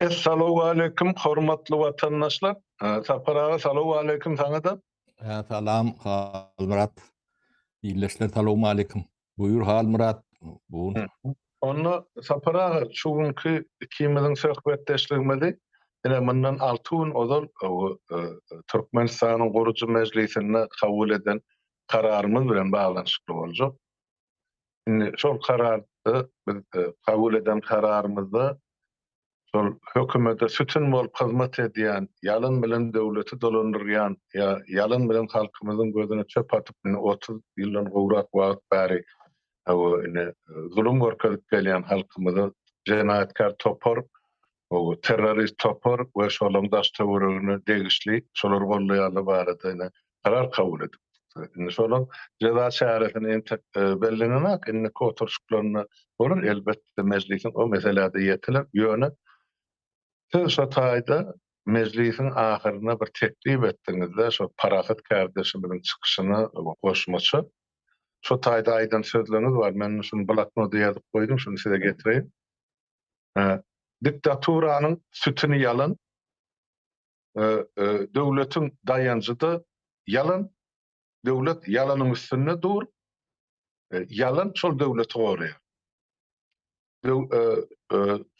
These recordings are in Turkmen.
Essalowaleýkim hormatly watandaşlar. Sapar aga salowaleýkim saňa-da. Salam Halmyrat. Ildeşler salowmaleýkim. Buýur Halmyrat. Onda Sapar aga şu günki ikimiziň söhbetdeşligimizi ine mundan alty gün ozal Türkmenistanyň gurujy mejlisinde kabul eden kararymyz bilen baglanyşykly boljak. Indi şol kararda biz kabul eden kararymyzda şol hökümete sütün bolup hyzmat edýän, ýalan bilen döwleti dolandyrýan ýa ýalan bilen halkymyzyň gözüne çöp atyp indi otuz ýyldan gowrak wagt bäri zulum görkezip gelýän halkymyza jenaýatkär topar terrorist topar we şolaryň daş-töweregine degişli şolary gollaýanlar barada ine karar kabul edipdi. Indi şolaryň jeza çäresini entek bellenenok, indiki oturyşyklarynda bolar, elbetde mejlisiň o meseläde ýetiler, ýöne siz şo taýda mejlisiň ahyryna bir teklip etdiňizde şo parahat kärdeşimiziň çykyşyna goşmaça şo taýda aýdan sözleriňiz bar, men şuny bloknoda ýazyp goýdum, şuny size getireýin. Diktaturanyň sütüni ýalan, döwletiň daýanjy-da ýalan, döwlet ýalanyň üstünde dur, ýalan şol döwleti goraýar.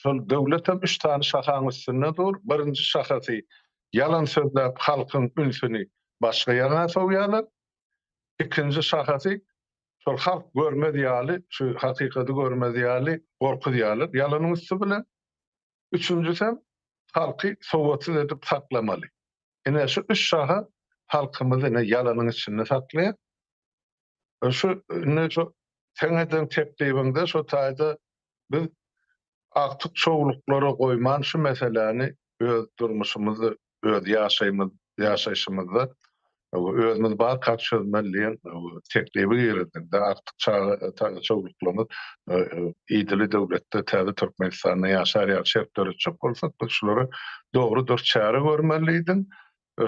Şol döwlet hem üç sany şahaň üstünde dur, birinji şahasy ýalan sözläp halkyň ünsüni başga ýaňa sowýarlar, ikinji şahasy şol halk görmez ýaly, şu hakykady görmez ýaly gorkuzýarlar, ýalanyň üsti bilen. Üçünjisem, halky sowatsyz edip saklamaly. Ine, şu üç şaha halkymyzy ine ýalanyň içinde saklaýar. Şu, indi şu seň eden teklibiňde şu taýda biz Agtyk şowluklara goýman şu meseläni öz durmuşymyzda, öz ýaşaýmyz, ýaşaýşymyzda özümiz barka çözmeli diýen teklibi girizdiňde agtyk çaga ta şowluklarymyz idili döwletde täze Türkmenistanda ýaşar ýaly şert döretjek bolsak biz şulara dogry dürst çäre görmeli diýdiň.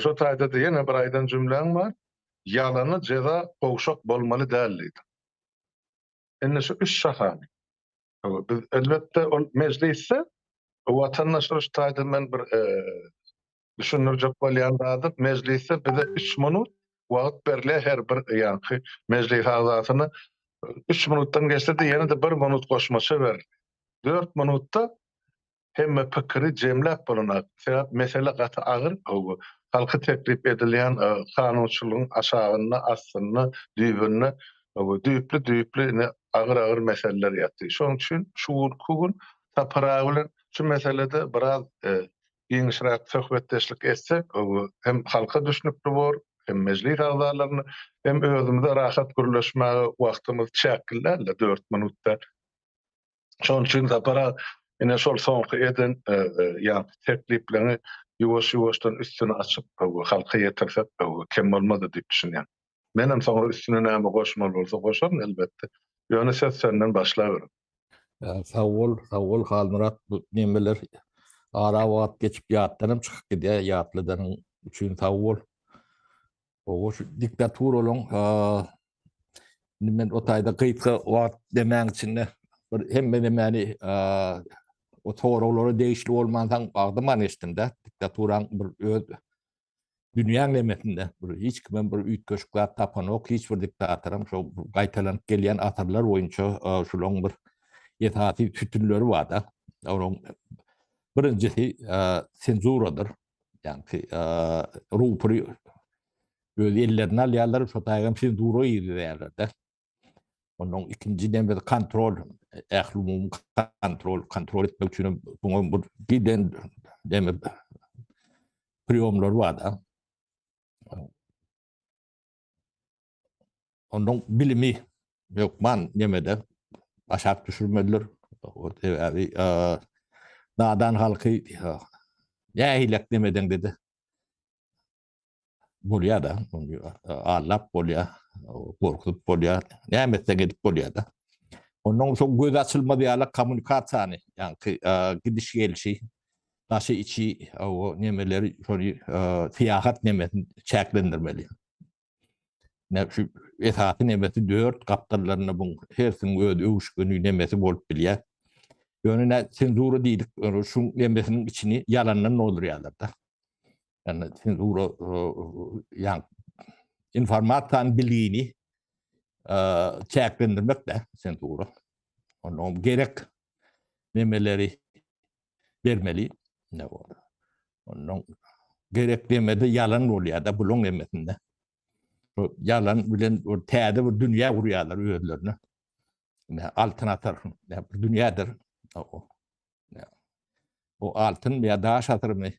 Şo taýda-da ýene bir aýdan jümläň bar. Ýalana jeza gowşak bolmaly däl diýdiň. Indi şu üç şahany Biz elbetde ol mejlisde watandaşlar taýdan men bir e, düşündirjek bolýan zady mejlisde bize 3 minut wagt berilýär her bir ýanky mejlis agzasyna 3 minutdan geçse de ýene de 1 minut goşmaça ber. 4 minutda Hemme pikiri jemläp bolanok. Sebäp mesele gaty agyr gowy. Halky teklip edilýän kanunçylygyň aşagynda, astynda, düýbünde düýpli düýpli ine agyr agyr meseleler ýatyr. Şonuň üçin şu günki gün Sapar aga bilen şu meselede biraz giňişräk söhbetdeşlik etsek gowy. Hem halka düşnükli bor, hem mejlis agzalaryna, hem özümize rahat gürleşmäge wagtymyz çäkli dälde dört minutda. Şonuň üçin Sapar aga ine şol soňky eden e, e, ýa tekliplerini ýuwaş-ýuwaşdan üstüni açyp e, halka ýetirsek kem bolmaz diýip düşünýän. Men hem soňra üstüne näme goşmaly bolsa goşaryn elbetde. Ýöne söz senden başlaber. Sag bol, sag bol Halmyrat. Bu nemeler ara wagt geçip ýatdan hem çykyp gidýär. Ýatladanyň üçin sag bol. Oba şu diktaturalaryň indi men o taýda gysga wagt demäň içinde bir hemme nämäni o soraglara degişli bolmansaň agdymany eşitdim-de, diktaturaň bir öz dünýäň nemesinde bir hiç kime bir üýtgeşik zat tapanok, hiç bir diktatoram şo gaýtalanyp gelýän asyrlar boýunça şulaň bir esasy sütünleri bar-da. Olaň birinjisi senzuradyr. Ýaňky rupury öz ellerine alýarlar, şo taýdan senzura girizýärler-de. Ondan ikinji dem biz kontrol, ählumumy kontrol, kontrol etmek üçin buňa bir giden demi priýomlar bar-da. Ondan bilimi hökman nemede aşak düşürmelidir. Sebebi nadan halky nähilek nemeden dedi. Bolýar da, allap bolýar, gorkup bolýar, näme etseň edip bolýar da. Ondan soň göz açylmaz ýaly kommunikasiýany, ýagny gidiş gelişi daşy içi o nemeleri şony syýahat nemesin çäklendirmeli. Näme şu esasy nemesi dört gapdallarynda bu hersiniň öz öwüşgini nemesi bolup bilýär. Ýöne nä senzura diýdik, şu nemesiniň içini ýalandan doldurýarlar da. Ýani senzura ýan informasiýany bilgini çäklendirmek de senzura. Onda gerek nemeleri bermeli ne bor ondan gerek demede yalan bolýar da buluň emesinde bu yalan bilen bir täze bir dünýä gurýarlar özlerine ne altın atar ne bir dünýädir o ne o altın ýa daş atyrmy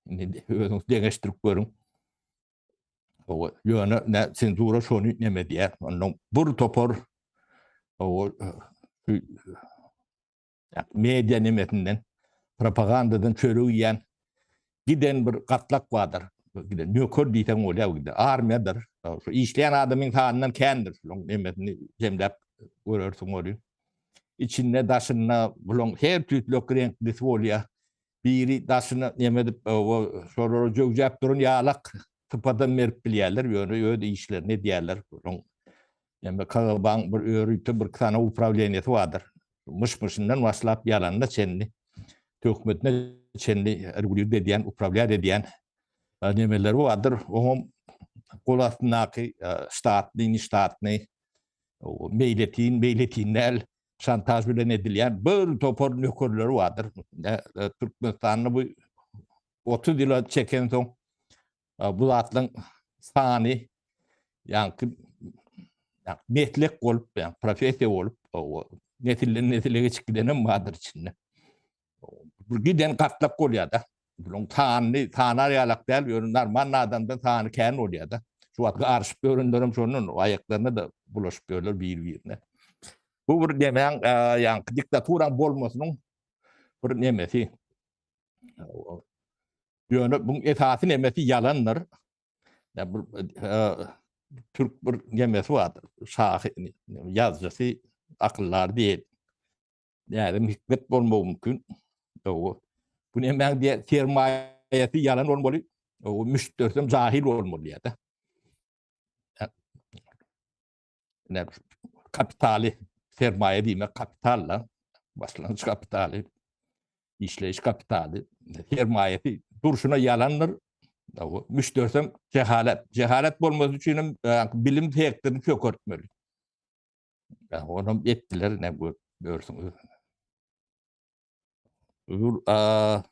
indi özüňiz deňeşdirip görüň o ýöne ne senzura şony neme diýär ondan bir topar o Media nemesinden, propagandadan çörek iýen giden bir gatlak bardyr. Giden nöker diýseň bolýar, giden armiýadyr. Şu işleýän adamyň sanyndan kändir. Şonuň nemesini jemläp görersiň ony. Içinde, daşynda bulaň her tüýtlek reňklisi bolýar. Biri daşyna neme edip, oba şolara jöwjäp duran ýalak sypadam berip bilýärler, ýöne öz işlerini edýärler. Onuň neme KGB-nyň bir örüte birki sany uprawleniýesi bardyr. Myş-myşyndan başlap ýalanyna çenli, töhmetine çenli rgulýuwt edýän, uprawlýat edýän nemeleri bardyr. Oňam gol astyndaky ştatnyny, ştatnyý, meýletin, meýletin däl şantaž bilen edilýän bir topar nökerleri bardyr. Türkmenistanda bu 30 ýyla çeken soň bu zatlaryň sany ýaňky meslek bolup, ýa professiýa bolup, nesilden nesile geçip gidenem bardyr içinde. Bu giden gatlak bolýar-da. Bularyň sanyny sanar ýalak däl, ýöne normal adamdan sany kän bolýar-da. Şu wagt garyşyp ýörenler hem şondan, aýaklaryna-da bulaşyp ýörler biri-birine. Bu bir nemäň, ýaňky diktaturaň bolmasynyň bir nemesi. Ýöne bu esasy nemesi ýalandyr. Ýa bu türk bir nemesi bardyr, şahyr, ýazyjysy, akyldar diýip, Näzim Hikmet bolmagy mümkin. Owo. Bu nämäň diýe sermaýasy ýalan bolmaly. Owo müşderisem jahil bolmaly diýýär-de. Näme kapitaly sermaýa diýmek kapital da. Başlangyç kapitaly. Işleýiş kapitaly. Sermaýasy durşuna ýalandyr. Owo müşderisem jehalat. Jehalat bolmasy üçin hem bilim sektoryny çökertmeli. Ýa onam etdiler ne gör, görsün öz. Ul a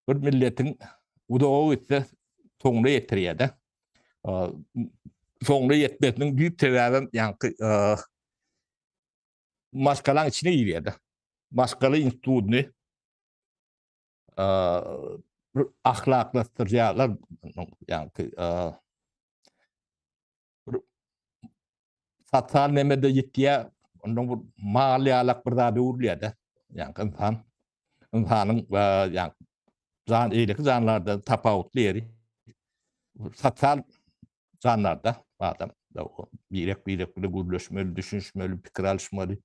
bir milletiň uzaga gitse soňuna ýetirýär-de. A, Soňuna ýetmesiniň düýp sebäbem ýaňky a, maşgalaň içine girýär-de. Maşgala institutyny a, bir ahlaklaşdyrýarlar, ýaňky a, Satal nemede ýitýär, ondan bir mal ýalak bir zada öwrülýär-de. Ýaňky ynsan, ynsanyň ýaňky jan eýleki janlardan tapawutly ýeri satal janlarda adam birek-birek bilen gürleşmeli, düşünişmeli, pikir alyşmaly.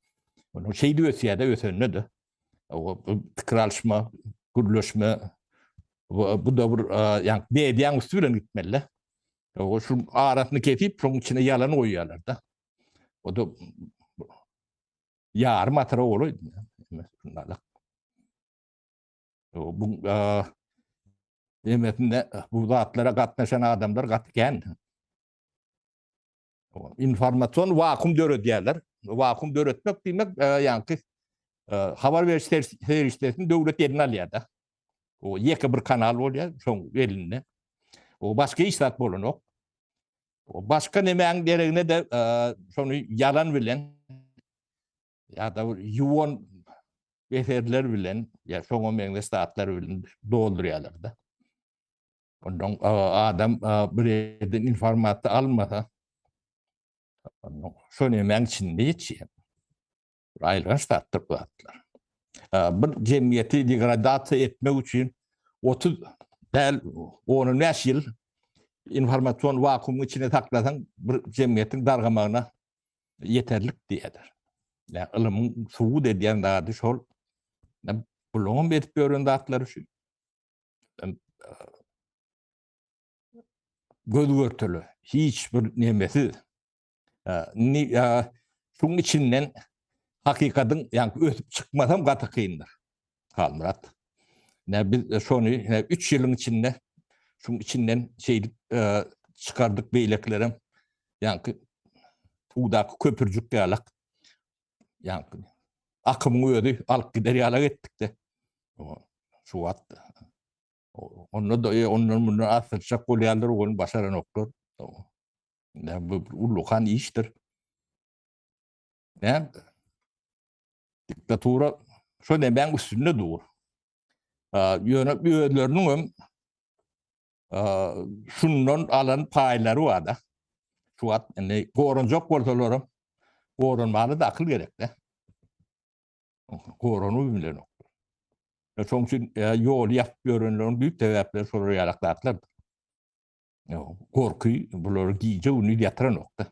Onuň şeýdip ösýär-de, ösende-de pikir alşma, gürleşme bu da bir yani beýdýän üsti bilen gitmeli. O şu arasyny kesip, şoň içine ýalan goýýarlar da. O da ýarym atyra bolaýdy. Bu demesinde bu zatlara gatnaşan adamlar gaty kän. informasion wakum döredýärler. Wakum döretmek diýmek, e, ýaňky e, habar beriş serişdesini döwlet eline alýar-da. O ýeke bir kanal bolýar, şoň elinde. O başga hiç zat bolanok. O başga nemäň deregine de e, şony ýalan bilen ýa-da ýuwan eserler bilen, ýa şoňa meňzeş zatlar bilen doldurýarlar-da. Ondan adam bir ýerden informasiýa almasa, şol nämäň içinde ýetýär. Aýylganç zatdyr bu zatlar. Bir jemgyýeti degradasiýa etmek üçin 30 däl 15 ýyl informasion wakuumyň içinde saklasaň, bir jemgyýetiň dargamagyna ýeterlik diýýärler. Ýa ylymyň subut edýän zady şol. Bularyň hem edip ýören zatlary şu. göz görteli hiç bir nemesiz şuň içinden hakykatyň ýa ösüp çykmasam gaty kyndyr. Halmyrat. Ne biz şony 3 ýylyň içinde şuň içinden şeýdip çykardyk beýlekilerem ýa-da köpürjik ýalak ýaňky akymyň özi alyp gider ýalak etdikde şu wagt onda da e, ondan mundan asyrçak bolýarlar ony başaranoklar näme bu ulukan işdir näme diktatura şu nemäň üstünde dur ýöne özleriniň hem şundan alan paýlary bar-da. Şu wagt indi goranjak bolsalaram, goranmaga-da akyl gerek-de. Goranuw bilen. Şoň üçin ýoly ýapyp ýörenleriň düýp sebäpleri şolar ýalak zatlar. Gorky bulary gije-gündiz ýatyranok-da.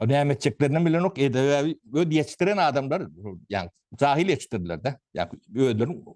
Näme etjeklerini bilenok, edebi öz ýetişdiren adamlar, ýagny jahil ýetişdirdiler-de. Ýagny özleriniň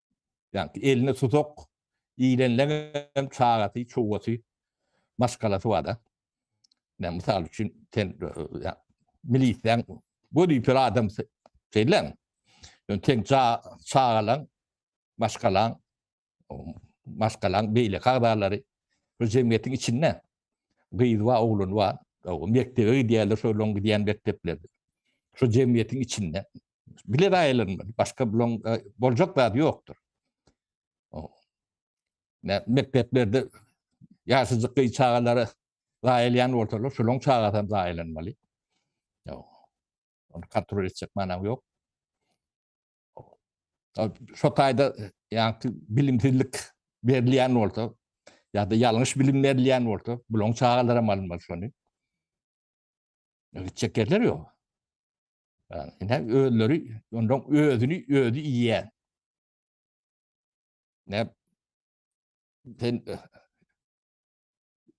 Ýagny eline susak ilenleňem çagasy, çugasy, maşgalasy bar-da. Ýa mysal üçin sen milisiýaň wezipeli adamsy şeýleň. Ýöne sen çagalaň, maşgalaň, maşgalaň beýleki agzalary bu jemgyýetiň içinde gyzy bar, ogluny bar, mekdebe gidýärler, şol olaň gidýän mekdepleri. Şu jemgyýetiň içinde Bile raýalaryndan başga bulaň e, boljak zady ýokdur. Mekdeplerde ýaşajyk gyz çagalara raýalýan bolsalar, şolaň çagasy hem raýalanmaly. Ony kontrol etjek manam ýok. Şo taýda ýa-da bilimsizlik berilýän bolsa, ýa-da ýalňyş bilim berilýän bolsa, bulaň çagalara malym bolsun. Gitjek ýerleri ýok. Ine özleri ondan özüni özü iýýän. Ne sen eh,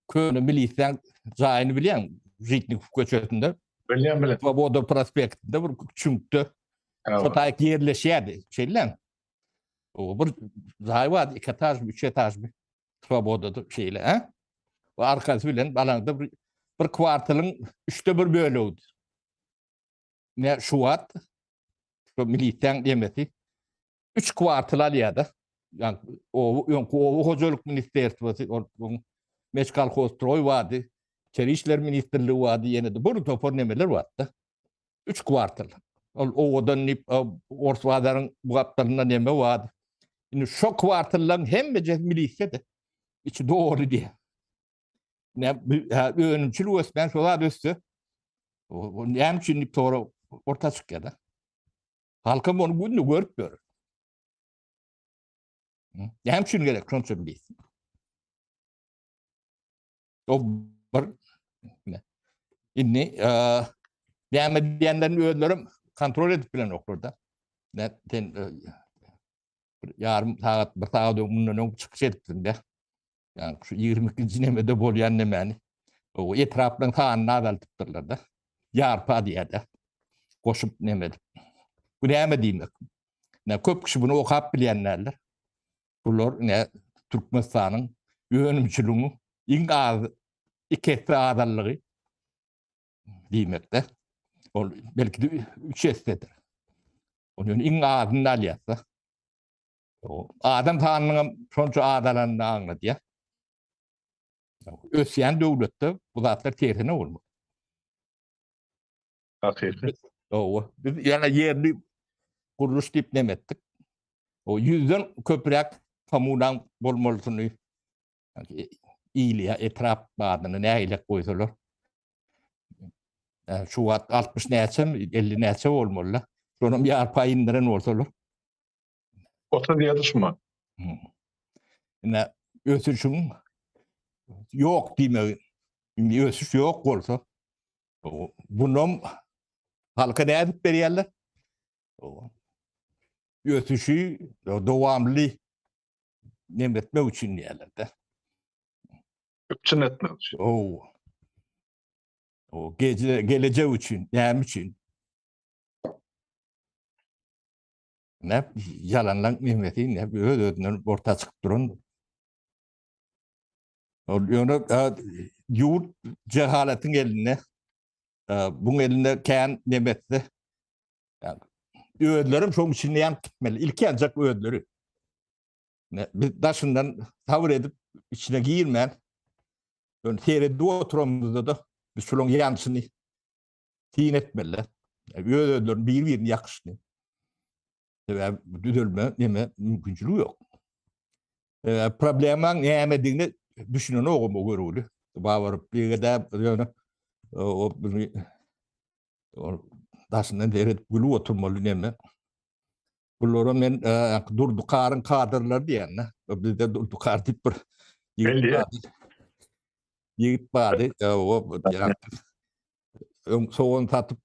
köne milisden jaýyny bilýän Žitnik köçesinde. Bilýän bilýän. Svoboda prospektinde bir çüňkde. Şu taýk ýerleşýärdi. Şeýle. O bir jaý bar, iki etajmy, üç etajmy. Swobodada şeýle, a? Bu arkasy bilen balaňda bir, bir kwartalyň üçde bir bölegidi. Ne şu wagt şu milisiýaň demesi üç kwartal alýar-da. Ýani oba öňki oba hojalyk ministrstwosy, onuň Meçkalhozstroý bardy, Içeri işler ministrligi bardy, ýene-de bir topar nemeler bardy-da. Üç kwartal. Ol owadan diýip, Ors bazaryň bu gapdalynda neme bar? Indi şo kwartallaryň hemmejesi milisiýa-da. Içi doly diýýär. Önümçilik ösmän şo zat össe, näme üçin diýip sorag orta çykýar-da. Halkam ony günde görüp ýör. Näme üçin gerek şonça milis? O bir indi näme diýenlerini özlerim kontrol edip bilen oklarda. Ne sen ýarym sagat, bir sagat öň mundan öň çykyş etdiň de. Yani şu 22-nji nemede bolýan nemäni. O etraplaryň sanyny azaltypdyrlar da. Ýarpa diýýärler. Goşup neme edip. Bu näme diýmek? Ne köp kişi bunu okap bilýänlerler. Bular ine Türkmenistanyň önümçiligiň iň az iki esse azallygy diýmekde. Ol belki de üç essedir. Ol ýöne iň azyny alýarsa. Adam sanynyň hem şonça azalanyny aňladýar. Ösýän döwletde bu zatlar tersine bolmaly. Hakyky. Owa. Biz ýa ýerli gurluş diýip näme etdik? O ýüzden köpräk kommunal bolmalysyny il ýa etrap badyny nägilek goýsalar. Şu wagt 60 näçe, 50 näçe bolmaly. Şonam ýarpaýyn indiren bolsalar. 30 ýazyşma. Ine ösüşiň ýok diýmegi. Indi ösüş ýok bolsa, bunam halka nädip berýärler? Ösüşi dowamly nem etmek üçin diýerler-de. Üpjün etmek üçin. Oo. O gece gelecek üçin, näme üçin? Näp ýalanlaň mimesi näp öz özünden orta çykyp duran. Ol ýöne ýurt jehalatyň elinde. Buň elinde kän nebetdi. Özlerim şoň içinde ýanyp gitmeli. Ilki ýanjak özleri. Biz daşyndan sabr edip içine girmän. Ýöne seredip oturamyzda da biz şolaň ýanşyny syn etmeliler. Öz-özlerini bir-birini ýakyşdy. Sebäbi bu düzelme näme mümkinçiligi ýok. Problemaň nämedigini düşünen ogam o görüwli. Babaryp diýgede ýöne o daşyndan deredip gülüp oturmaly näme. Bulara men Durdukaryň kadrlary diýen. Bizde Durdukar diýip bir ýigit bardy. Öň sogan satyp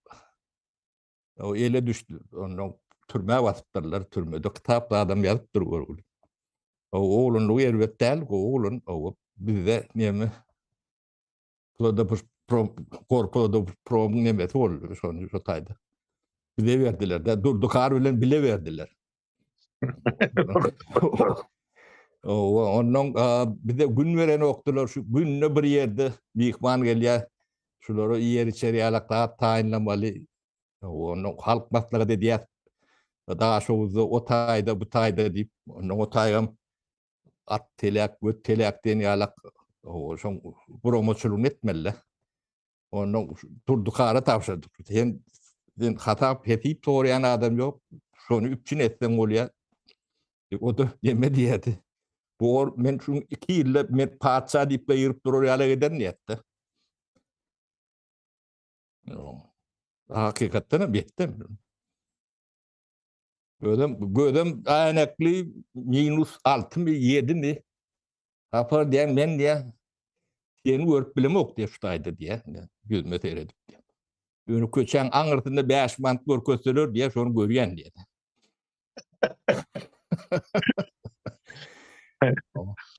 ele düşdi. Ondan türmä basypdyrlar. Türmede kitap adam ýazypdyr görgüli. Oglanlygy erbet däl, gowy oglan. Bizde näme Plodopus prom, korplodopus promuň nemesi boldy şonu şu taýda. Bile berdiler de, durdu kar bilen bile berdiler. Owa, ondan bize gün beren okdular, şu günde bir yerde mihman gelýär. Şulara ýer içer ýalak zat taýynlamaly. Ondan halk maslahat edýär. Daşowuzda o taýda, bu taýda diýip, ondan o taýam at telek göt telek diýen ýalak şoň guramaçylygyny etmeli onda durdukara tabşyrdyk sen sen hatap hesip soraýan adam ýok şony üpjün etseň bolýar e, o da neme diýýärdi bor men şu iki ýylda men patyşa diýip gygyryp durar ýala giden diýýärdi hakykatdan hem etdim Özüm gözüm äýnekli minus altymy ýedimi Hapa diýen men diýä seni görüp bilemok diýä şu taýda diýä ýüzüme seredip diýä. Ýöne köçäň aňyrsynda 5 manat görkezseler diýä şony görýän diýä.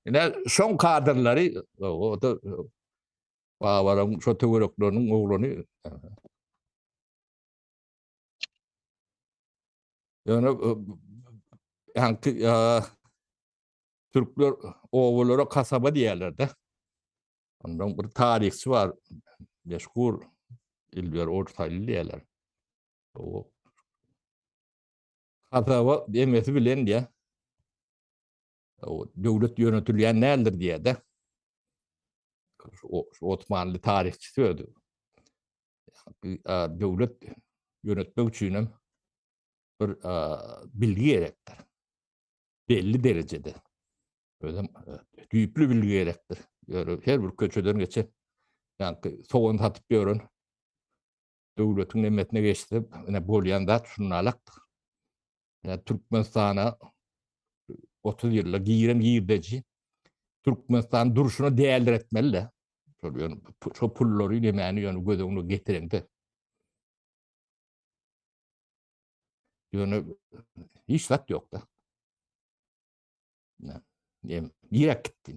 Ine şoň kadrlary o da babaram şu töwerekleriniň oglany Ýöne ýaňky türkler obalara kasaba diýerler-de. Ondan bir taryhçy bar, meşhur Ilber Ortaýly diýerler. O kasaba demesi bilen diýä. O döwlet ýönetilýän däldir diýýär-de. O Osmanly taryhçysy öýdü. Döwlet ýönetmek üçin hem bir bilgi gerekdir. Belli derejede. Özüm düýpli bilgi gerekdir. Ýöne her bir köçeden geçip, ýa-da sowan satyp ýören Döwletiň nemesine geçsek, ine, bolýan zat şunalakdyr. Ýa Türkmenistana otuz ýylda giren girdeji Türkmenistanyň durşuna däldir etmeli-de. Şol ýöne şo pullary nemäni ýöne göz öňüne getireňde. Ýöne hiç zat ýok-da. Ýa, ýa, ýa gitdi.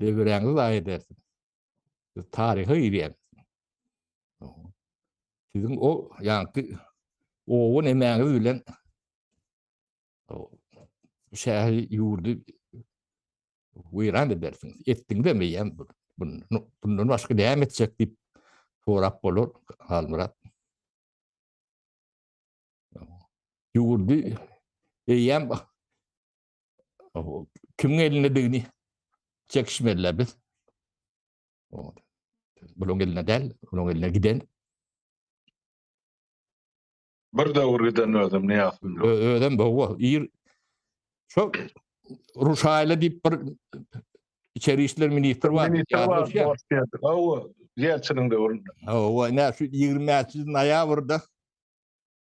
Döwüräňizi zaýa edersiň. Siz taryha girýäňiz. Siziň o ýaňky owan emäňiz bilen şäheri ýurdy weýran edersiňiz. Etdiňizem eýýäm bundan başga näme etjek diýip sorap bolar Halmyrat. Ýurdy eýýäm Kimiň elindedigini çekişmediler biz. Buluň eline del, buluň eline giden. Bir döwür giden özüm ne yaptım? Özüm bu, ir. Çok Ruşayla deyip bir içeri işler ministr var. Ministr var, boş geldi. Ava, Yelçinin dövründe. Ava, ne şu 20 noyabrda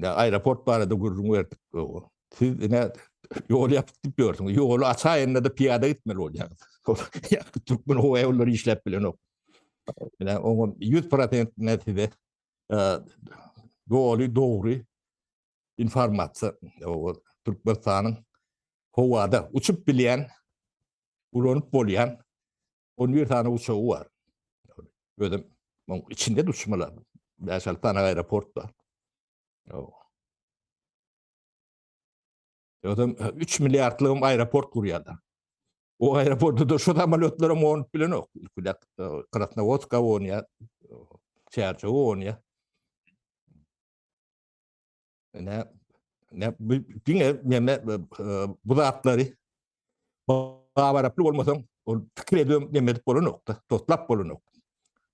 Ýa aeroport barada gürrüň berdik. Siz ine ýol ýapyk diýip ýörsiňiz. Ýoly açaýynda-da piýada gitmeli bolýarys. Türkmen howa ýollary işläp bilenok. Ine oňa 100% ne size doly dogry informasiýa o Türkmenistanyň howada uçup bilýän ulanyp bolýan On bir sany uçagy bar. Özüm muň içinde uçmalar. Bäş alty sany aeroport bar. Özüm 3 milliardlygym aeroport gurýarlar. O aeroportda da şu samolýotlar hem onup bilenok. Ilkiler Krasnowodska onýa, Çärjew onýa. Ne diňe menne bu zatlary babaraply bolmasaň, ol pikir edem ne edip bolanokda, totlap bolanok.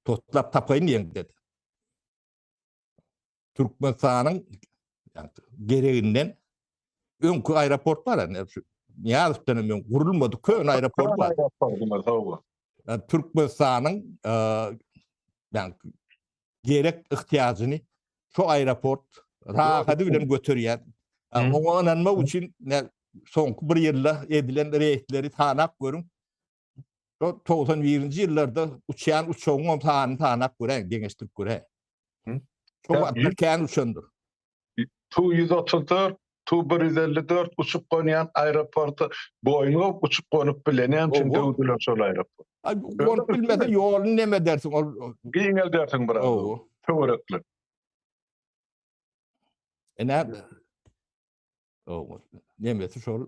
Totlap tapaýyn diýen dedi. Türkmenistanyň gereginden öňki aeroport bar ene şu Niyazowdan hem gurulmadı köne aeroport bar. Türkmenistanyň yani gerek ihtiýajyny şu aeroport rahady bilen göterýär. Oňa ynanmak üçin soňky bir ýylda edilen reýdleri sanap görüň. 91-nji ýyllarda uçýan uçagyň sanyny sanap göräýiň, deňeşdirip göräýiň. Şu wagtlar kän uçandyr. Tu-ýüz otuz dört, Tu-bir ýüz elli dört uçup-gonýan aeroporty Boeing-a uçup-gonup bilenýän üçin döwdüler şol aeroporty. Gonup bilmese ýoluny nemedersiň ol. Giňeldersiň biraz töwerekli. Ine, nemesi şol.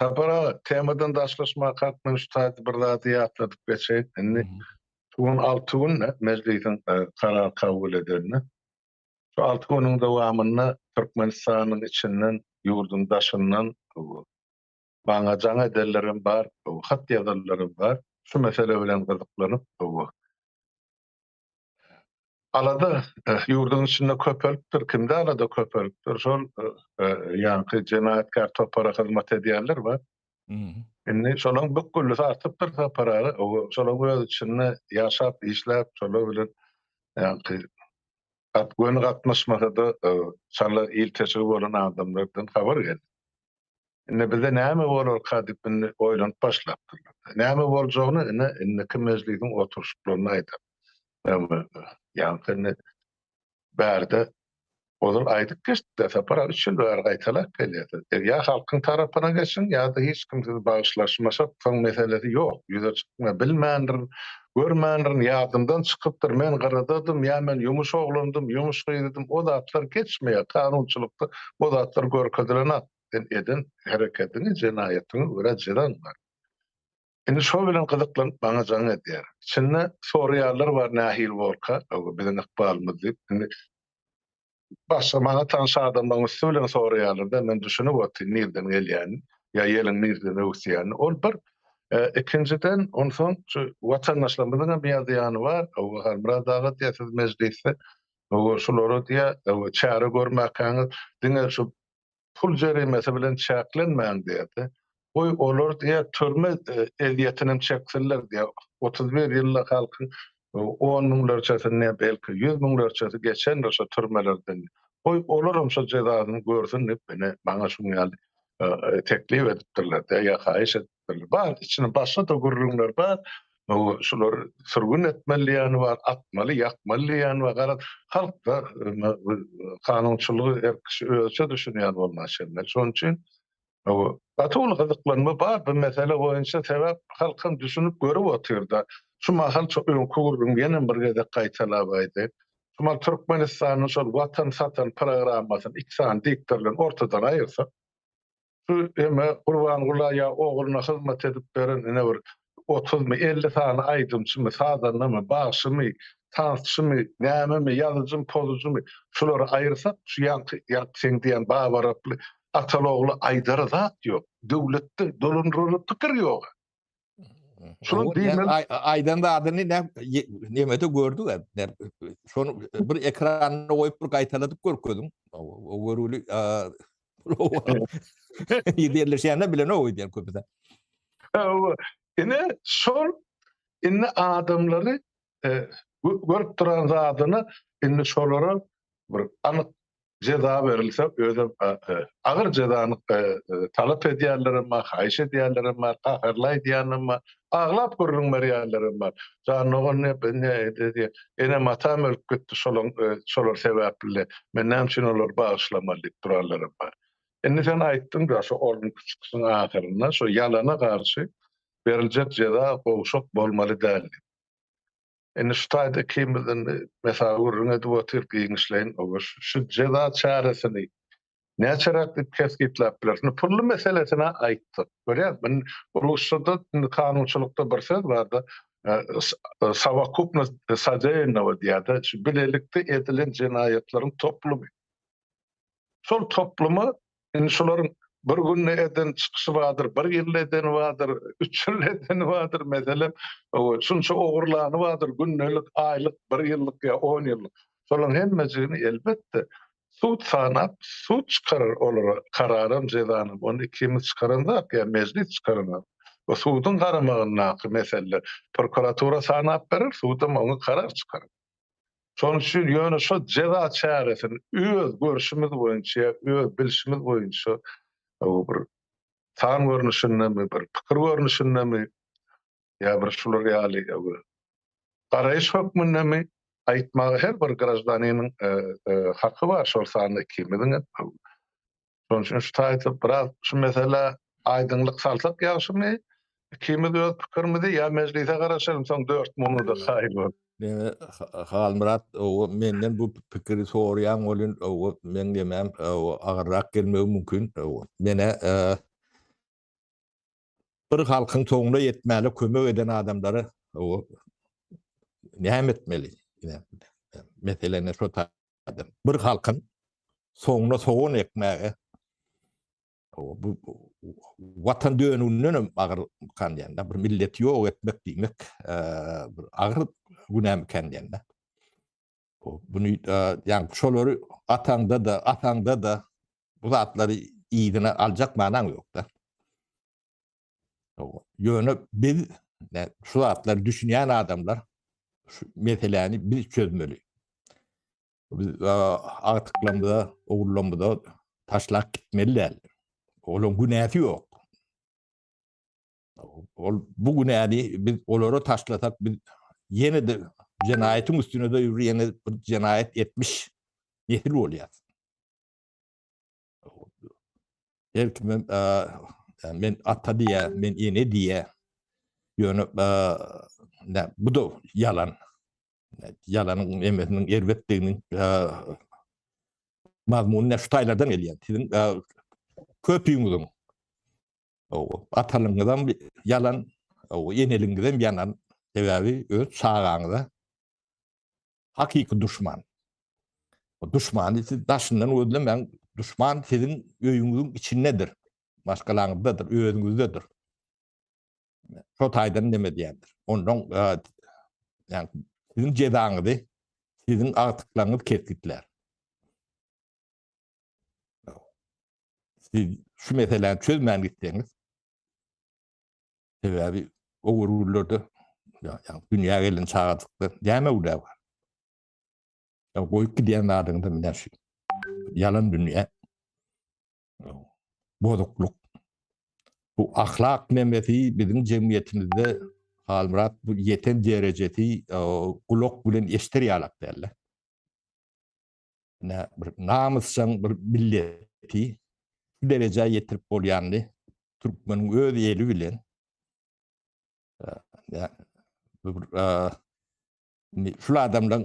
Sapar aga, temadan daşlaşmak hakynda şu taýda bir zady ýatladyp geçeýin. Indi şu gün alty gün Mejlisiň karar kabul edenine. Şu alty günüň dowamynda Türkmenistanyň içinden, ýurduň daşyndan maňa jaň edenlerem bar, hat ýazanlarym bar. Şu mesele bilen gyzyklanyp, Alada ýurduň içinde köpelipdir. Kimde alada köpelipdir? Şol ýaňky jenaýatkär topara hyzmat edýänler bar. Indi şolaryň bükgülisi artypdyr Sapar aga. Şolaryň öz içinde ýaşap, işläp, şolar bilen ýaňky göni gatnaşmasa-da, şonda ilteşigi bolan adamlardan habar geldi. Indi bize näme bolarka diýip indi oýlanyp başlapdyrlar. Näme boljagyny ine indiki mejlisiň oturyşyklarynda aýdar. Ýaňky indi bärde ozal aýdyp geçdik-de, Sapar aga üç ýyl bäri gaýtalap gelýärsiz. Siz ýa halkyň tarapyna geçiň, ýa-da hiç kim sizi bagyşlaşmasak, soň meselesi ýok, ýüze çykma, bilmändirin, Görmändirin, ýadymdan çykypdyr. Men gyradadym, ýa men ýumuş oglandym, ýumuş gyzydym, o zatlar geçmeýär. Kanunçylykda o zatlar görkezilenok. Sen eden hereketiňi, jenaýatyňy görä jezaň bar. Indi şo bilen gyzyklanyp maňa jaň edýär. Içinde soraýanlar bar nähili bolka, öňe biziň ykbalymyz diýip. Indi Başga maňa tanyş adamlaryň üsti bilen soraýarlar-da, men düşünip otyryn nirden gelýänini, ýa ýeliň nireden öwüsýänini. Ol bir. Ikinjiden, onsoň şu watandaşlarymyzyň hem ýa zyýany bar. Hawa, Halmyrat aga diýýär, siz mejlisde, hawa, şulara diýýär, hawa, çäre görmäkäňiz, diňe şu pul jerimesi bilen çäklenmäň diýerdi. Goý, olar diýýär, türme ezýetinem çeksinler diýýär. Otuz bir ýylda halkyň on müňlerçesi, ne, belki, ýüz müňlerçesi geçendir şo türmelerden. Goý, olaram şo jezasyny görsün diýip, ine, maňa şuň ýaly teklip edipdirler-dä ýa haýyş edipdirler. etmeli bar içini başga da gürrüňler bar şular sürgün etmeli diýýän bar atmaly ýakmaly diýýän bar garaz halkda kanunçylygy her kişi özüçe düşünýän bolmaly şeýle şonuň üçin gaty uly gyzyklanma bar bu mesele boýunça sebäp halkam düşünip görüp otyrda şu mahal çok öňki gürrüň ýene bir gezek gaýtalap aýdaýyn Şumal Türkmenistanyň şol watan satan programmasyny iki sany diktor bilen ortadan aýyrsak Şu eme Gurbanguly'a ogluna hyzmat edip beren ine bir otuzmy, elli sany aýdymçymy, sazandamy, bagşymy, tansçymy, nämemi, ýazyjymy, pozucymy, şulary aýyrsak, şu ýaňky sen diýen Baba Araply ataly-ogly aýdara zat ýok. Döwletde dolandyrylan pikir ýog-a. Şunuň diýmeli aýdan zadyny nemede gördük hep. Şonu bir ekranda goýup bir gaýtaladyp görkeziň. O görüli ýerleşýände bilen o diýen köpüden. Ine şol indi adamlary görüp duran zadyny indi şolara bir anyk jeza berilse özem agyr jezany talap edýänler hem bar haýyş edýänler hem bar gaharly aýdýan hem bar aglap gürrüň berýänler hem bar jan dogan enem atam ölüp gitdi şolaň şolar sebäpli men näme üçin olary bagyşlamaly diýip duranlar hem bar indi sen aýtdyň da şo orunky çykyşyň ahyrynda şo ýalana garşy beriljek jeza gowşak bolmaly däl diýip Indi şu taýda ikimizden mesawy gürrüň edip otyryp giňişleýin, Oba, şu jeza çäresini näçeräk diýip kesgitläp bileris? Indi pully meselesini-ä aýtdyk. Görýäňizmi? Indi rusçada, indi kanunçylykda bir söz bar-da, sowokupnost sodeyanowa diýýär-de, şu bilelikde edilen jenaýatlaryň toplumy. Şol toplumy, indi şolaryň bir günde eden çykyşy bardyr, bir ýylda edeni bardyr, üç ýylda edeni bardyr, meselem, şunça ogurlany bardyr, gündelik, aýlyk, bir ýyllyk ýa on ýyllyk. Şolaryň hemmejigini, elbetde, sud sanap, sud çykarar olara kararam, jezanam. Ony ikimiz çykaran zat ýa Mejlis çykaran zat. Bu suduň garamagyndaky mesele. Prokuratura sanap berer, sudam oňa karar çykarar. Şonuň üçin ýöne şo jeza çäresini öz görşümiz boýunça ýa öz bilşimiz boýunça o bir san görnüşindemi, bir pikir görnüşindemi ýa bir şular ýaly garaýyş hökmündemi aýtmaga her bir graždaniniň haky bar, şol sanda ikimiziň hem. Şonuň üçin şu taýda biraz şu meselä aýdyňlyk salsak ýagşymy? Ikimiz öz pikirimizi ýa mejlise garaşalym, soň dört munuda kaýyl bolup. Ýöne Halmyrat menden bu pikiri soraýan welin meň demem agyrrak gelmegi mümkin. Men-ä Bir halkyň soňuna ýetmäne kömek eden adamlara näme etmeli? Meseleni şo taýdan. Bir halkyň soňuna sogan ekmäge bu watan dönüginden hem agyr kandýanda, bir milleti ýok etmek diýmek bir agyr günämi kandýanda. Buny ýa şolary ataňda-da, ataňda-da bu zatlary yzyna aljak manyň ýok-da. Ýöne biz şu zatlary düşünýän adamlar şu meseläni biz çözmeli. Biz agtyklarymyza, ogullarymyza taşlap gitmeli däl. Olaryň günäsi ýok. Ol bu günäni biz olara taşlasak, biz ýene-de jenaýatyň üstüne-de ýene bir jenaýat etmiş nesil bolýarys. Her kime men ata diýýär, men ene diýýär. Ýöne bu-da ýalan. Ýalanyň emesiniň erbetdiginiň mazmuny şu taýlardan gelýär. Siziň köpüňiziň Hawa. Atalyňyzam ýalan, hawa, eneliňizem ýalan. Sebäbi öz çagaňyza hakyky duşman. O duşmany siz daşyndan gözlemäň. Duşman siziň öýüňiziň içindedir. Maşgalaňyzdadyr, özüňizdedir. Şo taýdan neme diýendir. Ondan ýa siziň jezaňyzy siziň agtyklaryňyz kesgitlär. Siz şu meseläni çözmän gitseňiz, sebäbi o gürgürlerde ýa-da dünýä gelen çagajykda näme uly bar? Ya goýup gidýän zadyňda mine şu ýalan dünýä. Bozuklyk. Bu ahlak nemesi biziň jemgyýetimizde Halmyrat bu ýeten derejesi gulak bilen eşider ýalak däldi. ne bir namysjaň bir milleti şu derejä ýetirip bolýandy. Türkmeniň öz eli bilen e, e, şul adamlaryň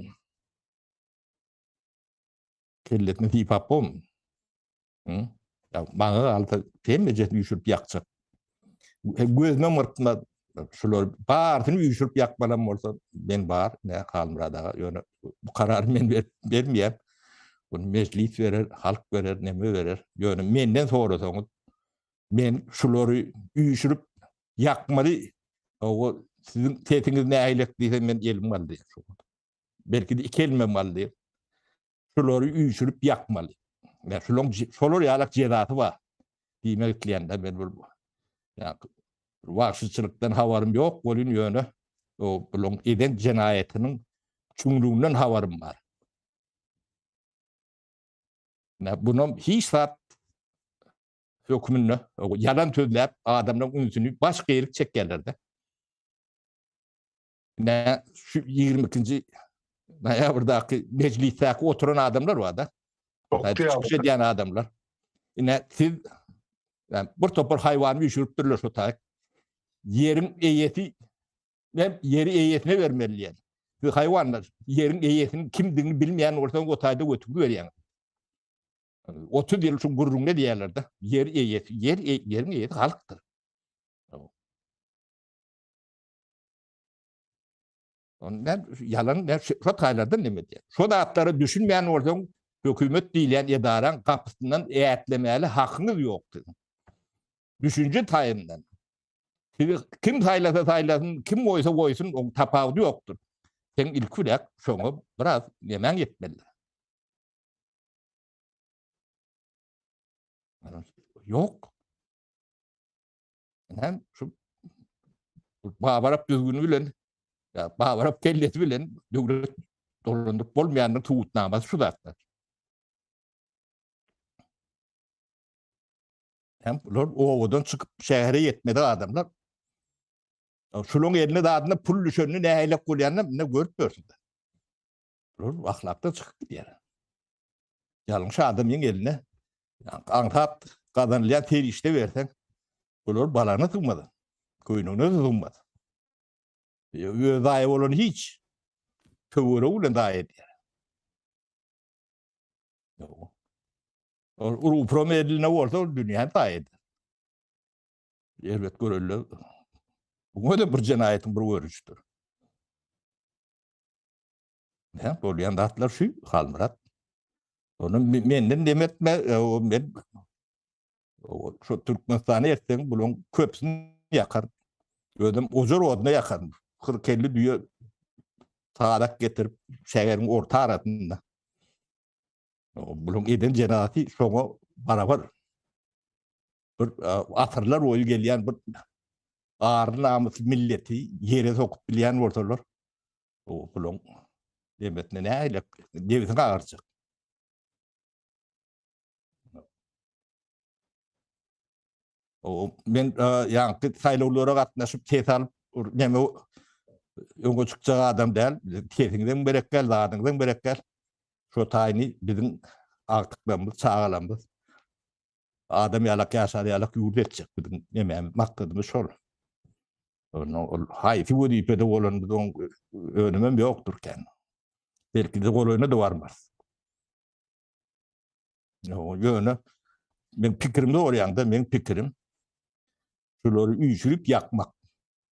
kellesini sypap bolmy? Maňa galsa, hemmejesini üýşürip ýakjak. Gözüme myrtma, şular barysyny üýşürip ýakmalam bolsa, men bar, ne Halmyrat aga, ýöne bu karary men bermeýän. Bunu mejlis berer, halk berer, neme berer. Ýöne menden sorasaňyz, men şulary üýşürip ýakmaly, hawa, siziň sesiňiz nähilek diýsem, men elim galdy. Belki-de iki elimem galdy. Şulary üýşürip ýakmaly. Ýa şulaň şolar ýalak jezasy bar. Diýmek isleýän-de men bir wagşyçylykdan habarym ýok welin ýöne o bulaň eden jenaýatynyň çuňlugynyň habarym bar. Nä bunam hiç zat hökmünde ýalan sözläp adamlaryň ünsüni baş geýlik çekýärler-de. Nä şu 22-nji noýabrdaky mejlisdäki oturan adamlar bar-da. Çykyş edýän adamlar. Ine siz yani, bir topar haýwany düşüripdirler şu taýyk. Ýeriň eýesi men ýeri eýesine bermeli diýen. Siz haýwanlar ýeriň eýesiniň kimdigini bilmeýän bolsaňyz o taýda götürip berýän. 30 ýyl şu gurruňda diýerlerde ýer eýesi, ýer ýeriň eýesi halkdyr. Onu ben yalan ben şu taylardan ne diye. Şu zatlara düşünmeyen olsan hükümet diýilýän edaran gapysyndan ätlemäli hakyňyz ýok sizin. Düşünje taýyndan. Sizi kim saýlasa saýlasyn, kim goýsa goýsun, oň tapawudy ýokdur. Sen ilk bilen şoňa biraz nemäň ýetmeli. Ýok. Hem şu babarap düzgünü bilen ya babarap kellesi bilen döwlet dolandyryp bolmaýanyň tugutnamasy şu zatlar. Hem bular owadan çykyp şähere ýetmedi adamlar. Şunuň eline dadyna pul düşenini nähile gurýanyny ne görüp görüp. Bular ahlakdan çykyp gidýär. Ýalňyş adamyň eline aňsat gazanylýan serişde berseň, bular balana sygmaz. Köýnüne sygmaz. Öz daýa bolan hiç töwere bilen daýa edýär. Ol uruprom eline bolsa ol dünýäni daýa eder. Elbet görelle. Bu da bir jenaýatyň bir görnüşidir. Hä, bolýan zatlar şu, Halmyrat. Ony menden dem etme, o men o şu Türkmenistany etseň, bularyň köpüsini ýakar. Özüm ojar oduna ýakaryn. 40-50 düýe tarak getirip, şäheriň orta arasynda. Bularyň eden jenaty şoňa barabar. bir asyrlar boýy gelýän bir ary namysly milleti ýere sokup bilýän bolsalar, o bulaň debetine nähili debisi gagarjak. O men ýaňky saýlawlara gatnaşyp ses alyp näme öňe çykjak adam däl. Sesiňizem berekgel, zadyňyzam berekgel. Şo taýyny biziň agtyklarymyz, çagalarymyz Adam ýalak ýaşar ýalak ýurt etjek biziň nememiz maksadymyz şol. Onda ol haýsy wezipede bolan biz oň önümem ýokdur kän. Belkide golaýyna da barmarys. Ýöne men pikirimde bolýaňda men pikirim şulary üýşürip ýakmak.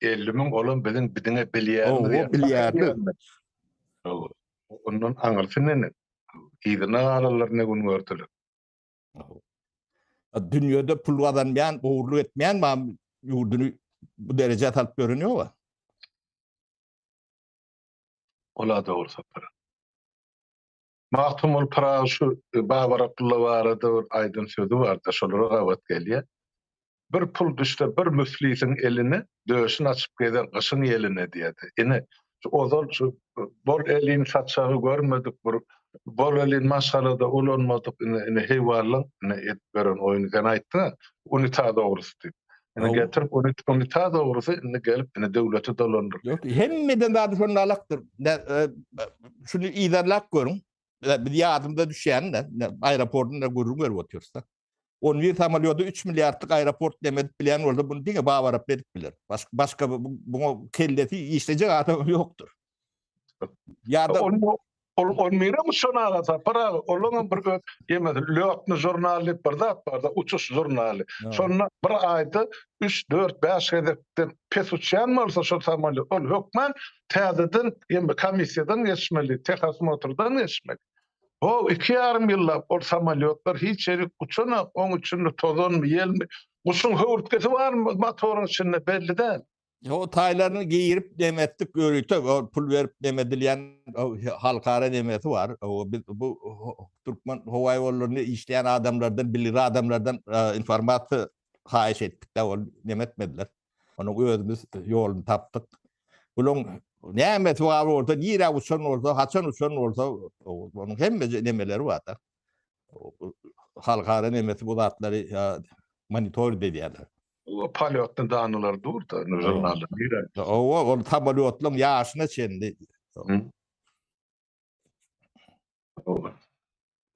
50 müň olam biziň biziňe bilýärmiz ýa. Bilýärdi. Ondan aňyrsy nene? Yzyna galanlar ne gün gördüler? Dünýede pul gazanmaýan, ogurlyk etmeýän bar ýurduny bu derejä salyp ýören ýoga. Ola dogry sapar. Magtymguly Pyragy şu Babar Abdylla barada bir aýdan sözi bar-da, şolara gabat gelýär. Bir pul düşse bir müflisiň eline, döşün açyp gezer gyşyň ýeline diýýär-de. Ine, şu ozal şu bol elin saçagy görmedik bir, bol elin maşgalada ulanmadyk, ine, ine heýwanlaň, ine, edip ýören oýny sen aýtdyň-a, unitaz ogrusy diýip. Indi getirip ony ony ta dogrusy indi gelip indi döwlete dolandyrdy. Ýok, hemmeden zady şonda alakdyr. Ne, e, şuny yzarlap görüň. E, Biz ýadymda düşýän, ne, ne, aeroportunda gürrüň berip otyrys da. 11 samolýody 3 milliardlyk aeroport deme edip bilýän bolsa, bunu diňe Babarap edip biler. Başga, başga bu- bu- buňa kellesi işlejek adam ýokdur. Ýa-da Ol ol nirem uçan aga sapar aga. Olaňam bir öz ýemedi. Lötni žurnal diýip bir zat barda, uçuş žurnaly. Şonda bir aýda 3-4-5 gezekden pes uçýan bolsa şol samolýot, ol hökman täzeden ýeme komissiýadan geçmeli, tehosmotrdan geçmeli. Ho, iki ýarym ýyllap ol samolýotlar hiç ýerik uçanok, oň içinde tozanmy, ýelmi, guşuň höwürtgesi barmy motoryň içinde belli däl. O taýlaryny geýirip demetdik ýörite, o pul berip demedilýän halkara demesi bar. O biz bu türkmen howa ýollarynda işleýän adamlardan, bilir adamlardan informasiýa haýyş etdik de, ol demetmediler. Onu özümiz ýoluny tapdyk. Bularyň nämesi bar bolsa, nirä uçan bolsa, haçan uçan bolsa, onuň hemme nemeleri bar da. Halkara nemesi bu zatlary monitoring edýärler. O polýotny danylar dur-da, indi žurnalda nirä? Hawa, ol samolýotlaryň ýaşyna çenli.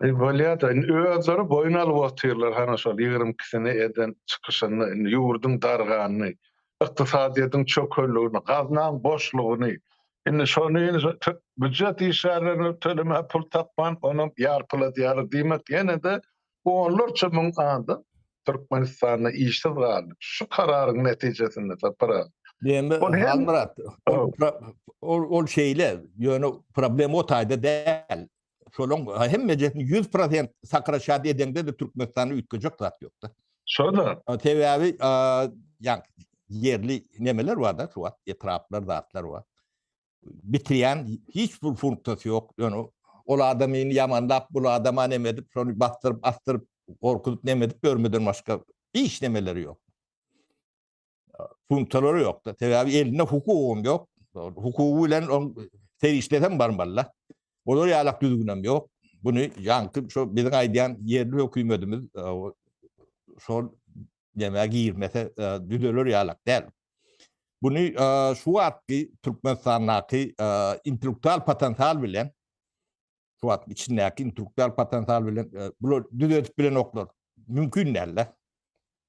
Eý, bolýa-da, indi özleri boýun alyp otyrlar, hany şol ýigrimi ikisini eden çykyşyny, indi ýurduň darganyny, ykdysadyýetiň çökelligini, gaznaň boşlugyny, indi şony býujet işgärlerine tölemäge pul tapman, onam ýarpyladýarlar diýmek, ýene-de Onlarça müň adam Türkmenistanda işsiz galdy. Şu kararyň netijesinde Sapar aga. Bende Halmyrat. Ol şeýle, ýöne problem o taýda däl. Şolaň hemmejesini 100% Sakara şat edeňde de Türkmenistanda üýtgejek zat ýok-da. Şo-da. Sebäbi ýerli nemeler bar-da, şu wagt etraplar, zatlar bar. bitirýän hiç bir funksiýasy ýok. Ýöne ol adamyny ýamanlap, bul adama neme edip, şony basdyryp, asdyryp, gorkuzyp neme edip ýörmeden başga hiç nemeleri ýok. Funksiýalary ýok-da. Sebäbi elinde hukugam ýok. Hukugy bilen oň serişdesem barmaly-da. Olar ýalak düzgünem ýok. Buny ýaňky şo biziň aýdýan ýerli hökümetimiz şol nämä girmese düzeler ýalak däl. Buny şu wagtky Türkmenistandaky intellektual potensial bilen şu wagt içindäki intellektual potensial bilen bular düzedip bilenoklar. Mümkin däl-de.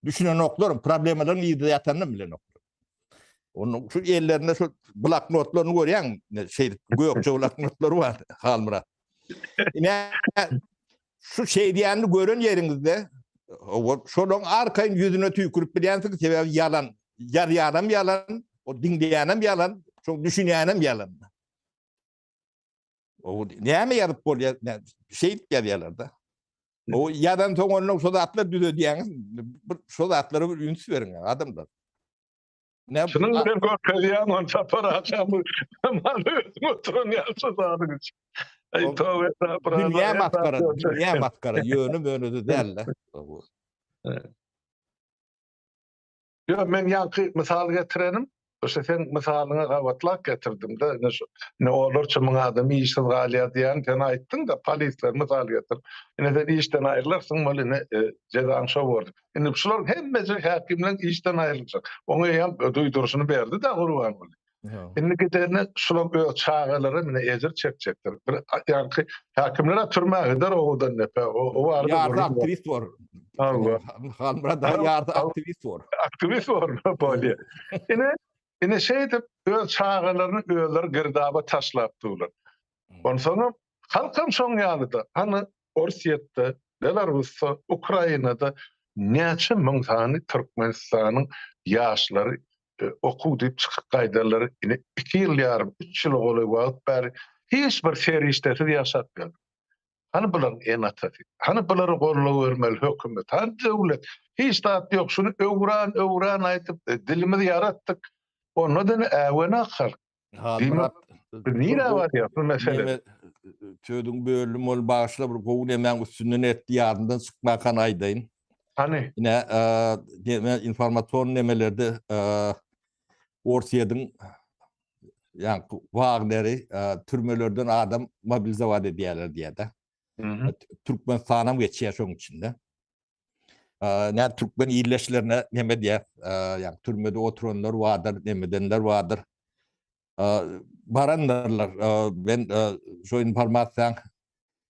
Düşünenoklar, problemalaryň ýüzde ýatanyny bilenoklar. Onun şu ellerinde şu bloknotlarını görýän, şey gökçe bloknotlar var Halmyrat. Ine şu şey diýenini gören ýeriňizde şonuň arkaýyn ýüzüne tüýkürip bilýänsiňiz, sebäbi ýalan, ýarýaram ýalan, o diňleýänem ýalan, şoň düşünýänem ýalan. O näme ýazyp bolýar? Şeýdip ýazýarlar-da. O ýazan soň ondan şu zatlar düzedýäňiz. Bir şu zatlara bir üns beriň adamlar. Ne? Şunun bilen görkezýän on çapar açam. Maňa özüm oturan ýalçy zadyň üçin. Ey tövbe estağfurullah. Dünýä maskara, dünýä maskara, ýöne möne däldi. Ýok, men ýaňky mysal getirenim, şu seň mysalyňy gabatlap getirdim-de, indi şu, indi olarça müň adam işsiz galýar diýýän, sen aýtdyň-da, polisleri mysal getirip. Indi sen işden aýrylarsyň, bol indi jezaň şo bordy. Indi şularyň hemmesi häkimleň işden aýryljak. Oňa eýýäm duýduryşyny berdi-de Gurbanguly. Indi giderine şular öz çagalary mine ejir çekjekdir. Bir ýaňky häkimler türmä gider owadan depe. O barada ýarda aktiwist bor. Allah. Halmyrat da ýarda aktiwist bor. Aktiwist bor bolýar. Ine ine şeýdip öz çagalaryny özleri girdaba taşlap durlar. Onsoň halkam şoň ýalyda. Hany Orsýetde, Belarusda, Ukrainada näçe müň sany Türkmenistanyň ýaşlary okuw diýip çykyp gaýdarlar, ine iki ýyl ýarym, üç ýyla golaý wagt bäri hiç bir serişdesiz ýaşapýar. Hany bularyň ene-atasy? Hany bulara goldaw bermeli hökümet? Hany döwlet? Hiç zat ýok, şuny öwran, öwran aýdyp dilimizi ýaratdyk, onda-da ine äwena halk. Halmyrat biz nirä barýas bu mesele? Sözüň bölüm ol bagyşla bir gowy nemäň üstünden etdi ýadymdan çykmakan aýdaýyn. Hany? Ine deme informasion nemelerde Orsýediň ýaňky Wagneri türmelerden adam mobilizowat edýärler diýýär-de. Türkmenistanam geçýär şoň içinde. Nädip türkmen ildeşlerine neme diýýär? Ýa türmede oturanlar bardyr, neme edenler bardyr. Barandyrlar. Men şu informasiýaň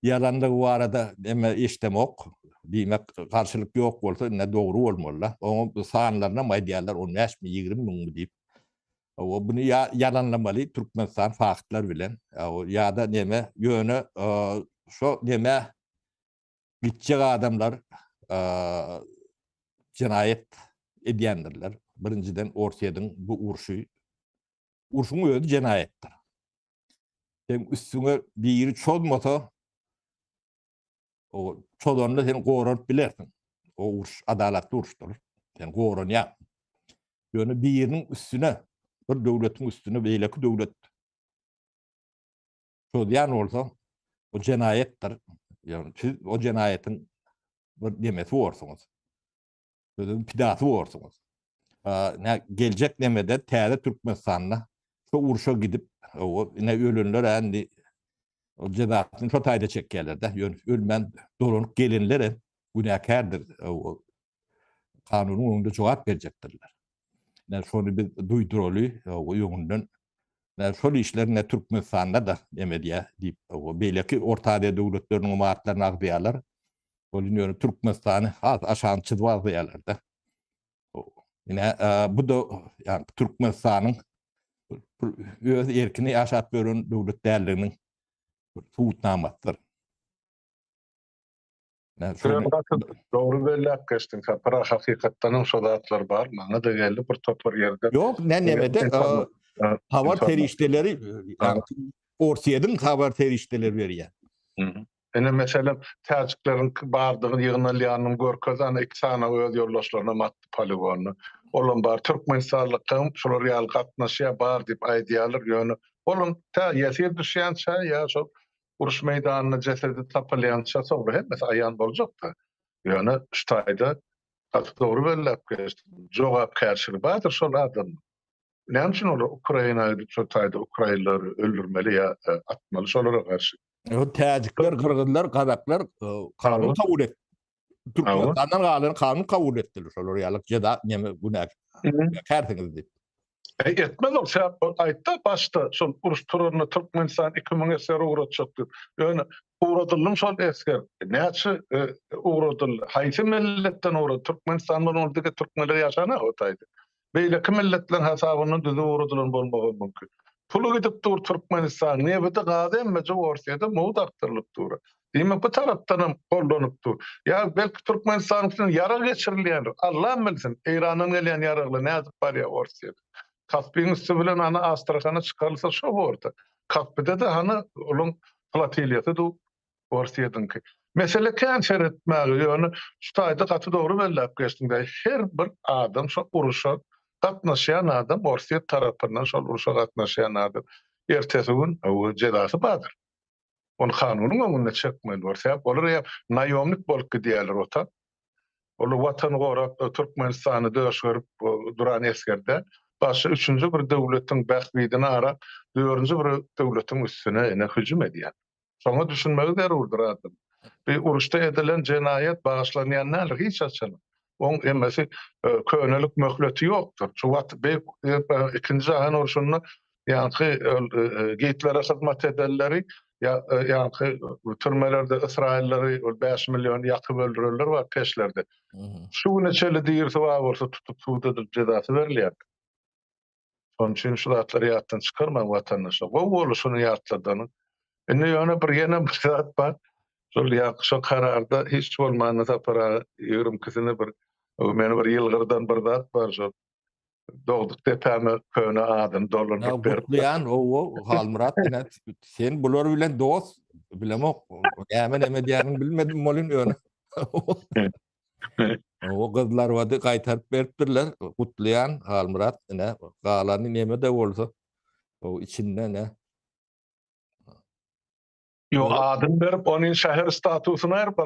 ýalandygy barada neme eşidemok. Diýmek, garşylyk ýok bolsa, ine dogry bolmaly-da. Onuň bu sanlarynam aýdýarlar, on bäş müň, ýigrimi müňmi diýip. Hawa, buny ýa ýalanlamaly Türkmenistan faktlar bilen, ýa-da neme, ýöne şo neme Gitjek adamlar jenaýat edýändirler. Birinjiden Orsýediň bu urşy, urşuň özi jenaýatdyr. Sen üstüňe biri çozmasa, o çozanda sen goranyp bilersiň. O uruş adalatly uruşdyr. Sen goranýaň. Ýöne biriniň üstüne, bir döwletiň üstüne beýleki döwlet çözýän bolsaň, bu jenaýatdyr. Ýagny siz o jenaýatyň bir nemesi borsuňyz. Sözüň pidasy borsuňyz. Nä geljek nemede täze Türkmenistanda şu urşa gidip, o ine ölenler indi o jezasyny şu taýda çekýärler-de, ýöne ölmän dolanyp gelenler hem günäkärdir. kanunyň öňünde jogap berjekdirler. Näme şony biz duýduraly öňünden. Näme şol işler ne Türkmenistanda da näme diýä diýip beýleki Orta Aziýa döwletleriniň ymaratlaryny agzaýarlar. Ol indi ýöne Türkmenistany has aşagyny çyzyp agzaýarlar-da. Ine bu da ýa Türkmenistanyň öz erkini ýaşap ýören döwlet däldiginiň subutnamasydyr. Sürem gaty dogry belläp geçdiň Sapar hakykatdanam şo zatlar bar maňada geldi bir topar ýerde. Ýok men nemede habar serişdeleri Orsýediň habar serişdeleri berýär. Ine meselem täjikleriň bardygy ýygnalýanyny görkezdi ana iki sany öz ýoldaşlaryna matdy poligony. Olam bar türkmenistanlykaň şular ýaly gatnaşýar bar diýip aýdýarlar ýöne olam tä ýesir düşýänçä ýa şol Uruş meýdanynda jesedi tapylýança soňra hemmesi aýan boljak-da. Ýöne şu taýda gaty dogry belläp geçdiň. Jogapkärçiligi bardyr şol adamyň. Näme üçin olar Ukraina gidip şol taýda ukrainleri öldürmeli ýa atmaly şolara garşy? Täjikler, gyrgyzlar, gazaklar kanun kabul etdi. Türkmenistandan galan kanun kabul etdiler şolar ýaly jeda neme günäk kärsiňiz diýip. E, etmez ol sebäp aýtdy başda şol uruş turanda Türkmenistan 2000 esger ugratjak diýip. Ýöne ugradyldy şol esger. Näçe e, ugradyldy? Haýsy milletden ugrady? Türkmenistan bolan ol dige türkmenler ýaşana otaydy. beýleki milletleriň hasabyndan düzüp ugradylan bolmagam mümkin. Puly gidip dur Türkmenistanyň, nebidi, gazy emmeje Orsýede mugt akdyrylyp dur. Diýmek bu tarapdanam gollanyp dur. Ýa belki Türkmenistanyň üstünden ýarag geçirilýändir. Allam bilsin, Eýrandan gelýän ýaraglar nädip barýar Orsýede. Kaspyň üsti bilen ana Astrahana çykarylsa şo borda. Kaspide-de hany olaň flotiliýasy dur. Orsýetiňki. Mesele kän seretmäge, ýöne şu taýda gaty dogry belläp geçdiň däý, her bir adam şo uruşa gatnaşýan adam Orsýet tarapyndan şol uruşa gatnaşýan adam ertesi gün jezasy bardyr. Ony kanunyň öňünde çekmeli bor. Sebäp olar eýýäm naýomnik bolup gidýärler ota. Olar watany gorap Türkmenistany döş görüp duran esger däl. Garşy üçünji bir döwletiň bähbidini arap dördünji bir döwletiň üstüne ine hüjüm edýär. Şoňa düşünmegi zerurdyr adam. Bir uruşda edilen jenaýat bagyşlanýan däldir hiç haçan. Oň emmesi könelik möhleti ýokdur. Şu wagt beýik ikinji jahan urşunda ýaňky Gitlere hyzmat edenleri ýaňky türmelerde ysraýyllary ol bäş milliony ýakyp öldürenler bar peşlerde. Şu güne çenli dirisi bar bolsa tutup sud edilip jezasy berilýär. Şonuň üçin şu zatlary ýatdan çykarmaň watandaşlar. Gowy boldy şuny ýatladanyň. Indi ýöne bir ýene bir zat bar. Şol ýaňky şo kararda hiç bolmanda Sapar aga ýigrimi ikisine bir meni bir ýylgyrdan bir zat bar şol. Dogduk depäme köne adyny dolandyryp beripdir. Gutlaýan, owo, Halmyrat ine sen bular bilen dost, bilemok. Näme-näme diýäniňi bilmedim welin ýöne. O gyzlar wady gaýtaryp beripdirler. Gutlaýan Halmyrat ine galany neme de bolsa o içinde ne. Yo adyn berip ony şäher statusyny aýryp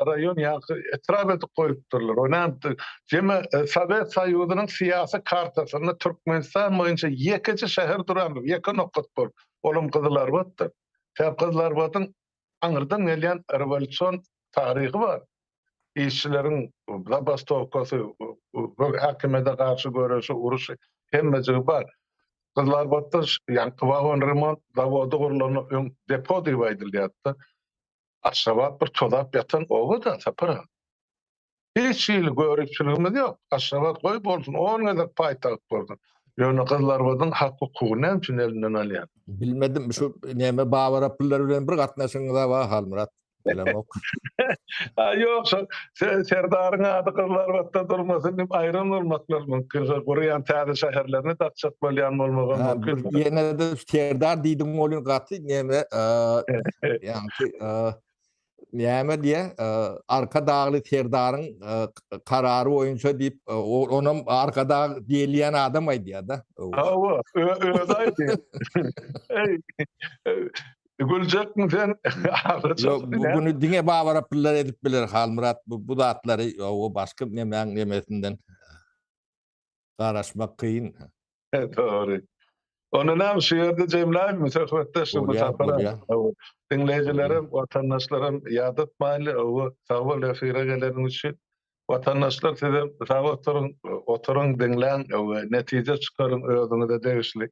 raýon ýa etrap edip goýupdyrlar. O näme jeme Sowet Soýuzynyň syýasy kartasynda Türkmenistan boýunça ýekeje şäher durandyr, ýeke nokat bor. Olam Gyzylarbatdyr. Tä Gyzylarbadyň aňyrdan gelýän rewolýusion taryhy bar. Işçileriň zabastowkasy, häkimiýete garşy göreşi, uruşy, hemmejigi bar. Gyzlarbatda ýaňky wagon remont zawody gurlandan öň depo diýip aýdylýardy. Aşgabat bir tozap ýatan oba-da, Sapar aga. Hiç hili göripçiligimiz ýok. Aşgabat goý bolsun on gezek paýtagt bolsun. Ýöne gyzlarbadyň hak-hukugy näme üçin elinden alýan? Bilmedim şu näme Babara pullar bilen bir gatnaşygyňyza bar Halmyrat. Bilemok. A ýok şo Serdaryň ady gyzlarbatda durmasyn diýip aýran bolmaklar mümkin. Şo gurýan täze şäherlerine dakjak bolýan bolmagam mümkin. Ýene-de Serdar diýdigiň bolýan gaty näme ýaňky Näme diýýär? Arkadagly serdaryň karary boýunça diýip, onam Arkadag diýilýän adam aýdýar-da. Hawa, özi aýdýar. Eý, güljekmi sen? Ýok, bu güni diňe babarapyllar edip biler, Halmyrat, bu zatlary, o başga nemäň nemesinden. garaşmak kyn. Dogry. Onda näme şu ýerde jemläýmmi söhbetdeş bu sapara? Hawa. Diňleýjilerem, watandaşlaram ýadatmaýly. Hawa. Sag bol efire geleniň üçin. Watandaşlar sizem sag oturyň, oturyň diňläň, netije çykaryň özüňize degişli.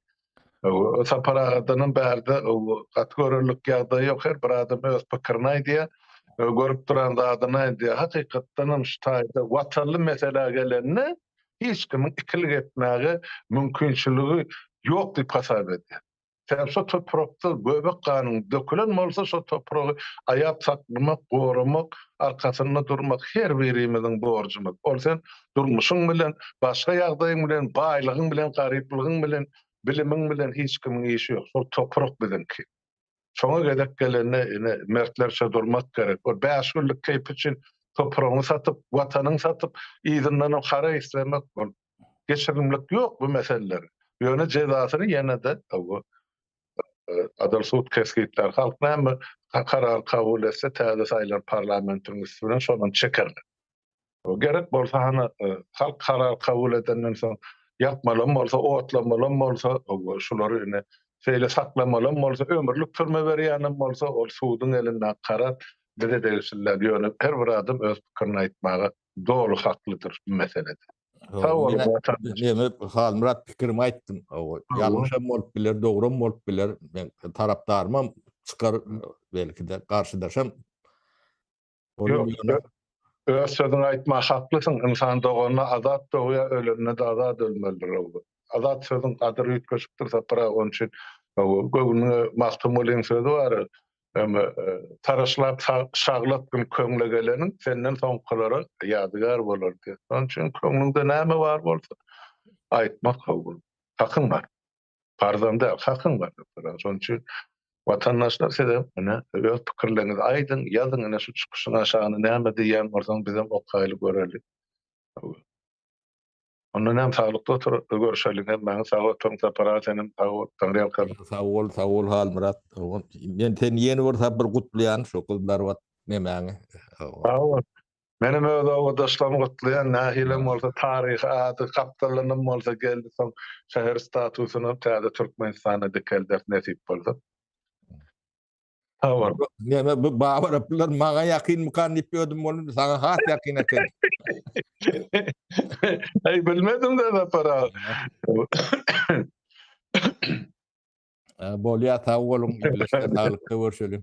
Sapar agadanam bärde gaty görerlik ýagdaý ýok, her bir adam öz pikirini aýdýar, görüp duran zadyny aýdýar. Hakykatdanam şu taýda watanly meselä gelende hiç kimiň ikilik etmäge mümkinçiligi ýok diýip hasap edýän. Sebäbi şu toprakda göbek ganyň dökülen bolsa şu topragy aýap saklamak, goramak, arkasynda durmak her birimiziň borjumyz. Ol sen Durmuşyň bilen, başga ýagdaýyň bilen, baýlygyň bilen, garyplygyň bilen, bilimiň bilen hiç kimiň işi ýok. Şol toprak biziňki. Şoňa gezek gelende ine mertlerçe durmak gerek. Ol bäş günlük keýp üçin topragyňy satyp, watanyňy satyp, yzyndanam hara islemek bol. Geçirimlik ýok bu meseleleri. Ýöne jezasyny ýene-de bu adalat sud kesgitlär. Halk näme karar kabul etse täze saýlan parlamentiň üsti bilen şonam çekerler. Gerek bolsa hany halk karar kabul edenden soň ýakmalam bolsa, otlamalam bolsa, şulary indi şeýle saklamalam bolsa, ömürlik türme berýänem bolsa, ol suduň elindäki karar bize degişli däl. Ýöne her bir adam öz pikirini aýtmaga doly haklydyr bu meselede. Sag boluň Watandaş. Meni Halmyrat pikirimi aýtdym. Ýalňyşam bolup biler, dogrum bolup biler. Men tarapdarymam çykar belki-de, garşydaşam. Ýok, öz sözüňi aýtma haklysyň, ynsan doganda azat dogýar, ölende-de azat ölmelidir hawa. Azat sözüň gadyry üýtgeşikdir Sapar-a, onuň üçin hawa, göwnüňe Magtymgulyň sözi bar, Eme, taraşlap şaglat gün köňle geleniň, senden soňkulara ýadygär bolar diýip. Onuň üçin köňlüňde näme bar bolsa, aýtmak hawa, hakyň bar. Arzan däl, hakyň bar diýip soraýar. Şonuň üçin watandaşlar sizem ine öz pikirleriňizi aýdyň, ýazyň ine şu çykyşyň aşagyna näme diýýän bolsaň bizem okaýly göreli. Onda näme saglykda otur görüşeli hemmäňiz sag oturyň Sapar aga senem sag bol Taňryýalkasyn. Sag bol sag bol Halmyrat dogan men seni ýene bir sapar gutlaýan şu gyzlar wat nemäňi. Sag bol. Menem öz obadaşlarym gutlaýan nähilem bolsa taryhy ady gapdalynam bolsa geldi soň şäher statusynam täze Türkmenistanda dikelderis nesip bolsa. Sag bol. Mena bu babaraplylar maňa ýakynmykan diýip ýödüm boldy saňa has ýakyn eken. Eý bilmedim de Sapar aga. Bolýar sag boluň saglyk görüşeliň.